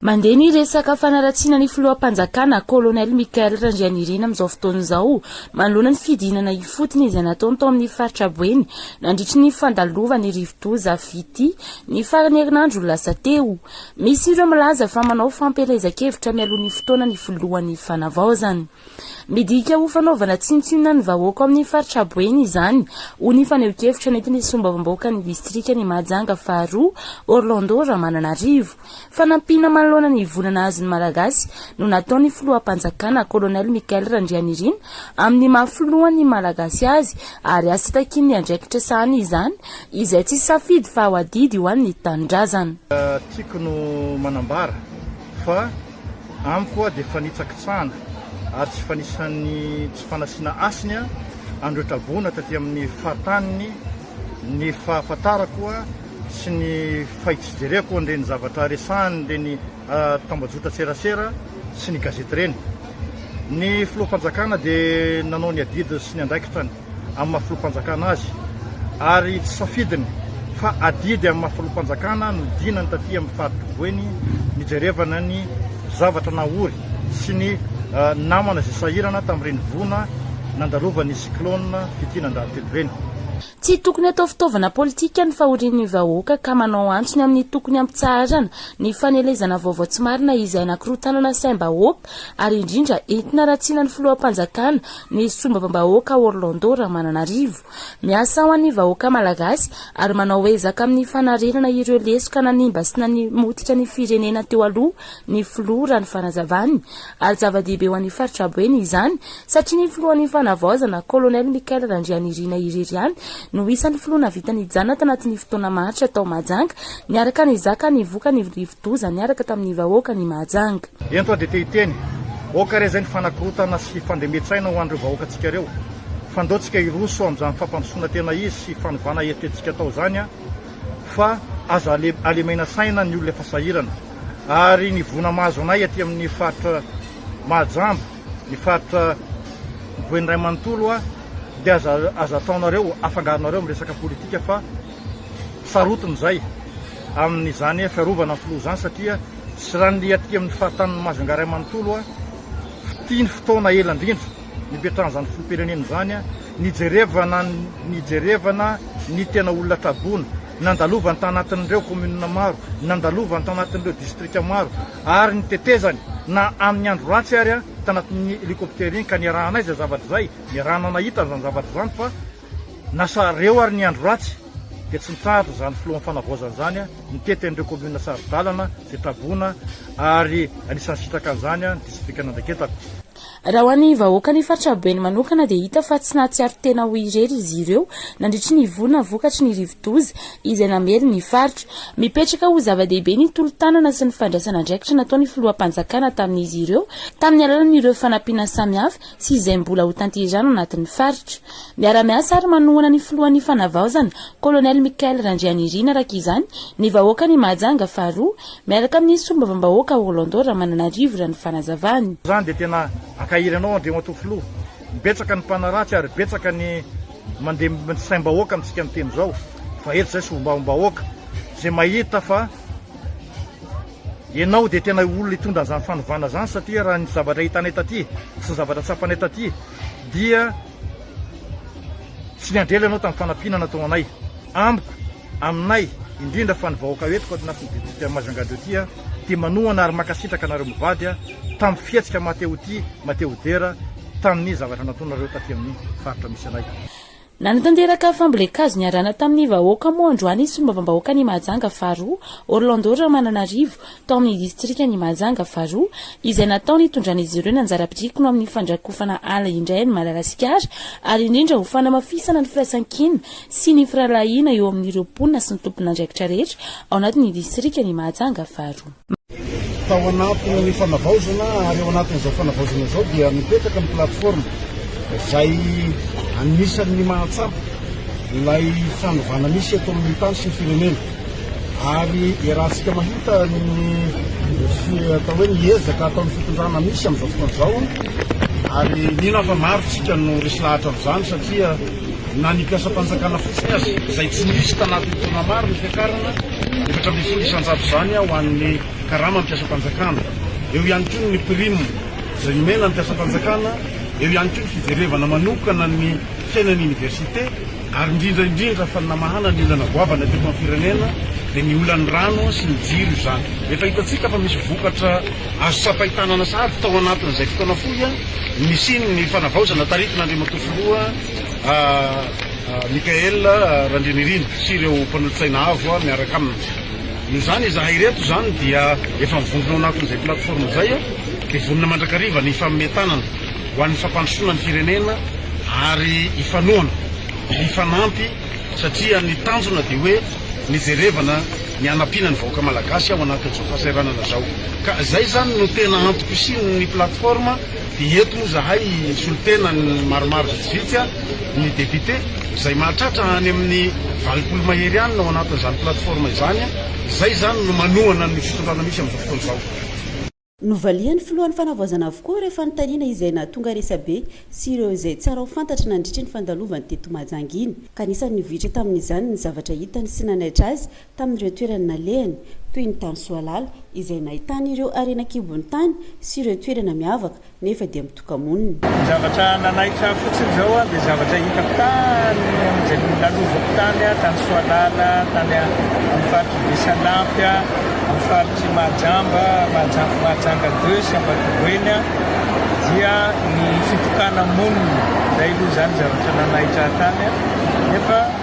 Mandeha ny resaka fanaratsiana ny filoham-panjakana, Colonel Michael Randrianirina amin'izao fotoana izao, manoloana ny fidinana ifotony izay nataony tao amin'ny faritra Boeny, nandritry ny fandalovan'ny rivodoza VT, ny faran'ny herinandro lasa teo. Misy ireo milaza fa manao fampielezan-kevitra mialoha ny fotoana ny filohan'ny Fanavaozana. Midika ho fanaovana tsinontsinona ny vahoaka ao amin'ny faritra Boeny izany, hoy ny fanehoan-kevitra nentin'ny solombavambahoakan'ny distrikan'i Mahajanga faharoa, Orlando Ramananarivo. Fanampiana manoloana ny voina nahazo ny Malagasy no nataon'ny filoham-panjakana, Colonel Michael Randrianirina, amin'ny maha filohan'ny Malagasy azy ary asa takian'ny andraikitra sahaniny izany izay tsy safidy fa ho adidy ho an'ny tanindrazana. Tiko no manambara fa. amiko hoa dia fanitsakitsahana ary tsy fanisan'ny tsy fanasiana hasiny an'ireo traboina taty amin'ny fahatanin'ny ny fahafantarako hoa sy ny fahitsijereko an'ireny zavatra resahan'ireny tambajotra serasera sy ny gazety ireny. Ny filoham-panjakana dia nanao ny adidy sy ny andraikitra ny. amin'ny maha filoham-panjakana azy ary tsy safidiny fa adidy amin'ny maha filoham-panjakana no dinany taty amin'ny faha-tovoany nijerevana ny zavatra nahory sy ny ah, namana izay sahirana tamin'ireny voina nandalovan'ny cyclone Fitia nandalo telo ireny. Tsy tokony atao fitaovana politika ny fahorian'ny vahoaka ka manao antsony amin'ny tokony hampitsaharana ny fanelezana vaovao tsy marina izay anakorotanana saim-bahoaka, ary indrindra entina ratsiana ny filoham-panjakana ny sombavambahoaka Orlando Ramananarivo. Miasa ho an'ny vahoaka malagasy ary manao ezaka amin'ny fanarenana ireo lesoka nanimba sy nanimotika ny firenena teo aloha ny filoha raha ny fanazavany ary zava-dehibe ho an'ny faritra Boeny izany Satria ny filohan'ny Fanavaozana, Colonel Michael Randrianirina irery ihany no isan'ny filoha nahavita nijanona tanatin'ny fotoana maharitra tao Mahajanga, niaraka nizaka ny vokany rivodoza niaraka tamin'ny vahoaka ny Mahajanga. Ento aho dia te hiteny, aoka re izay ny fanakorotana sy fandremetsaina ho an'ireo vahoakantsika ireo, fa ndao tsika hiroso amin'izany fampandrosoana tena izy sy fanovana eritretintsika tao izany fa aza alemena saina ny olona efa sahirana ary ny voina mahazo anay aty amin'ny faritra Mahajamba. ny faritra voheny ray manontolo a de aza aza ataonareo afangaronareo amin'ny resaka politika fa sarotiny izay amin'izany fiarovana ny filoha izany satria sy raha ny liatika amin'ny fahatanin'ny Majunga ray manontolo a fitia ny fotoana ela indrindra nipetrahan'izany filoham-pirenena izany a nijerevana nijerevana ny tena olona traboina nandalovany tanatin'ireo kominina maro nandalovany tanatin'ireo distrika maro ary ny tetezany na amin'ny andro ratsy ary tanatin'ny helicoptère iny ka niarahanay izay zavatra izay, niarahana nahita an'izany zavatra izany fa nasa reo ary ny andro ratsy dia tsy nitsahatra izany filohan'ny fanavaozana izany nitety an'ireo commune saro-dalana izay traboina ary anisan'ny sitraka an'izany ny distrikan'Andraiketako. Raha ho an'ny vahoakan'ny faritra Beny manokana dia hita fa tsy nahatsiaro tena ho irery izy ireo nandritry ny volana vokatry ny rivodoza izay namely ny faritra. Mipetraka ho zava-dehibe ny tolo-tanana sy ny fandraisana andraikitra nataon'ny filoham-panjakana tamin'izy ireo tamin'ny alalan'ireo fanampiana samihafa sy izay mbola ho tanterahina anatin'ny faritra. Miara-miasa ary manohana ny filohan'ny fanavaozana, Colonel Michael Randrianirina araka izany, ny vahoakan'i Mahajanga faharoa, Miaraka amin'ny Solombavambahoaka Orlando Ramananarivo raha ny fanazavany. Izany dia tena ankahiry anao Andriamatoa Filoha. Betsaka ny mpanaratsy ary betsaka ny mandeha ny saim-bahoaka amintsika miteny izao fa eto izay Solombavambahoaka izay mahita fa ianao dia tena olona hitondra an'izany fanovana izany satria raha ny zavatra hitanay taty sy ny zavatra tsapanay taty dia Tsy niandry ela ianao tamin'ny fanampiana nataonao anay. Amiko, aminay, indrindra fa ny vahoaka eto Kaotinasy ny Distrika Majunga de Oti dia manohana ary mankasitraka anareo mivady tamin'ny fihetsika maha te ho tia, maha te ho dera tamin'ny zavatra nataonareo taty amin'ny faritra misy anay. Nanatanteraka fambolen-kazo niarahana tamin'ny vahoaka moa androany Solombavambahoakan'i Mahajanga faharoa, Orlando Ramananarivo, tao amin'ny distrikan'i Mahajanga faharoa, izay natao nitondran'izy ireo ny anjara birikiny ho amin'ny fandrakofana ala indray an'i Madagasikara ary indrindra ho fanamafisana ny firaisankina sy ny firahalahiana eo amin'ireo mponina sy ny tompon'andraikitra rehetra ao anatin'ny distrikan'i Mahajanga faharoa. Tao anatin'ny fanavaozana ary ao anatin'izao fanavaozana izao dia mipetraka ny plateforme izay anisan'ny mahatsapa ilay fanovana misy eto amin'ny tany sy ny firenena. Ary iarahantsika mahita ny atao hoe ny ezaka ataon'ny fitondrana misy amin'izao fotoana izao, ary mino aho fa maro isika no resy lahatra amin'izany satria na ny mpiasam-panjakana fotsiny aza izay tsy nisy tanatin'ny taona maro ny fiakarana efatra ambin'ny folo isan-jato izany ho an'ny karama mpiasam-panjakana, eo ihany koa ny prime izay omena ny mpiasam-panjakana, eo ihany koa ny fijerevana manokana ny fiainan'ny oniversite. ary indrindra indrindra fa ny namahana ny olana goavana teto amin'ny firenena dia ny olan'ny rano sy ny jiro izany. Efa hitantsika fa misy vokatra azo tsapain-tanana sahady tao anatin'izay fotoana fohy nisian'ny fanavaozana taritin'Andriamatoa Filoha Michaël Randrianirina sy ireo mpanolotsaina avo miaraka aminy. Noho izany izahay ireto izany dia efa mivondrona ao anatin'izay plateforme izay dia vonona mandrakariva ny hifanomey tanana. ho an'ny fampandrosoana ny firenena ary hifanohana, hifanampy satria ny tanjona dia hoe ny jerevana, ny hanampiana ny vahoaka malagasy ao anatin'izao fahasahiranana izao ka izay izany no tena antoko sy ny plateforme dia eto moa izahay hisolo tena ny maromaro vitsivitsy ny député izay mahatratra any amin'ny valopolo mahery any ao anatin'izany plateforme izany izay izany no manohana ny fitondrana misy amin'izao fotoana izao. Novalian'ny filohan'ny fanavaozana avokoa ireo fanontaniana izay nahatonga resabe sy ireo izay tsara ho fantatry nandritry ny fandalovany teto Mahajanga iny, ka anisan'ny nivohitra tamin'izany ny zavatra hitany sy nanaitra azy tamin'ireo toerana nalehany, toy ny tany Soalala izay nahitany ireo harena an-kibon'ny tany sy ireo toerana miavaka nefa dia kaominina. Ny zavatra nanaitra ahy fotsiny izao dia zavatra hitako tany amin'izay nilalovako tany, tany Soalala, tany amin'ny faritr'i Besalampy, amin'ny faritr'i Mahajamba, Mahajanga Mahajanga deux sy Ambatoboeny, dia ny fitokana-monina. Izay aloha izany zavatra nanaitra ahy tany, nefa.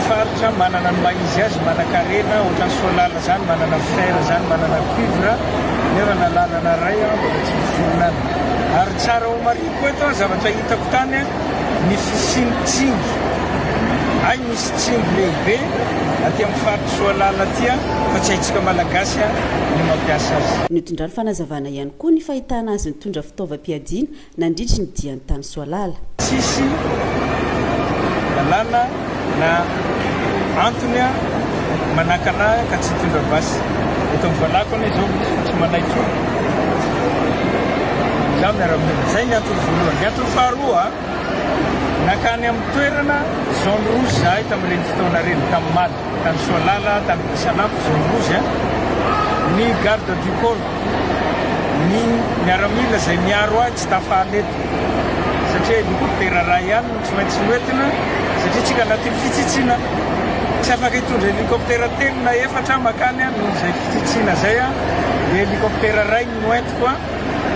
faritra manana ny maha izy azy, manankarena ohatran'ny solala zany, manana fer zany, manana cuivre, nefa na lalana ray an mbola tsy misy fihinana. Ary tsara homarihiko eto an, zavatra hitako tany an, ny fisian'ny tsingy, hay misy tsingy lehibe aty amin'ny faritra soalala aty an, fa tsy haintsika malagasy an ny mampiasa azy. Notondrany fanazavana ihany koa ny fahitana azy nitondra fitaovam-piadiana nandritry ny diany tany Soalala. Tsisy lalàna na antony manakana ahy ka tsy hitondra basy. Eto amin'ny valahako anie izao misy fa tsy manahy intsony izaho miara-monina. Izay ny antony voalohany. Ny antony faharoa, nankany amin'ny toerana zone rouge izahay tamin'ireny fotoana ireny, tamin'Omaly, tany Soalala, tany Betsalampy, zone rouge, ny garde du corps. ny miaramila izay miaro ahy tsy tafala eto satria helicoptera iray ihany no tsy maintsy noentina satria tsika anatin'ny fitsitsiana tsy afaka hitondra helicoptera telo na efatra makany aho noho izay fitsitsiana izay aho dia helicoptera iray no noentiko aho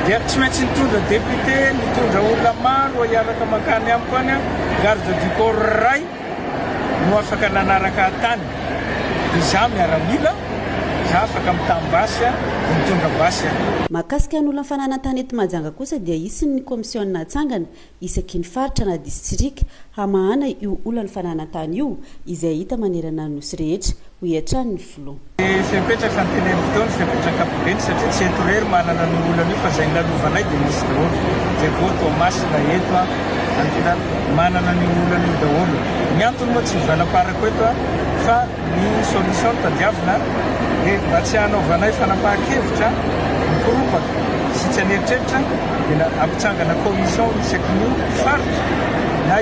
dia tsy maintsy nitondra député nitondra olona maro hiaraka makany amiko any aho garde du corps iray no afaka nanaraka an-tany izaho miaramila, izaho afaka mitam-basy an, mitondra basy an. Mahakasika ny olona fananan-tany eto Mahajanga kosa dia hisy ny kaomisiona hatsangana isaky ny faritra na disitrika hamahana io olan'ny fananan-tany io izay hita manerana ny nosy rehetra, hoy hatrany ny filoha. Izay mipetraka Antenimidona izay mipetraka Ampibeny satria tsy eto irery manana an'io olana io fa izay nilalovanay dia nisy daholo dia voa Toamasina eto an Antina manana an'io olana io daholo ny antony moa tsy hivalaparako eto an fa ny solution tadiavina dia mba tsy hanaovanay fanapahan-kevitra mikoropaka sy tsy an'eritreritra dia ampitsangana commission isakin'io faritra na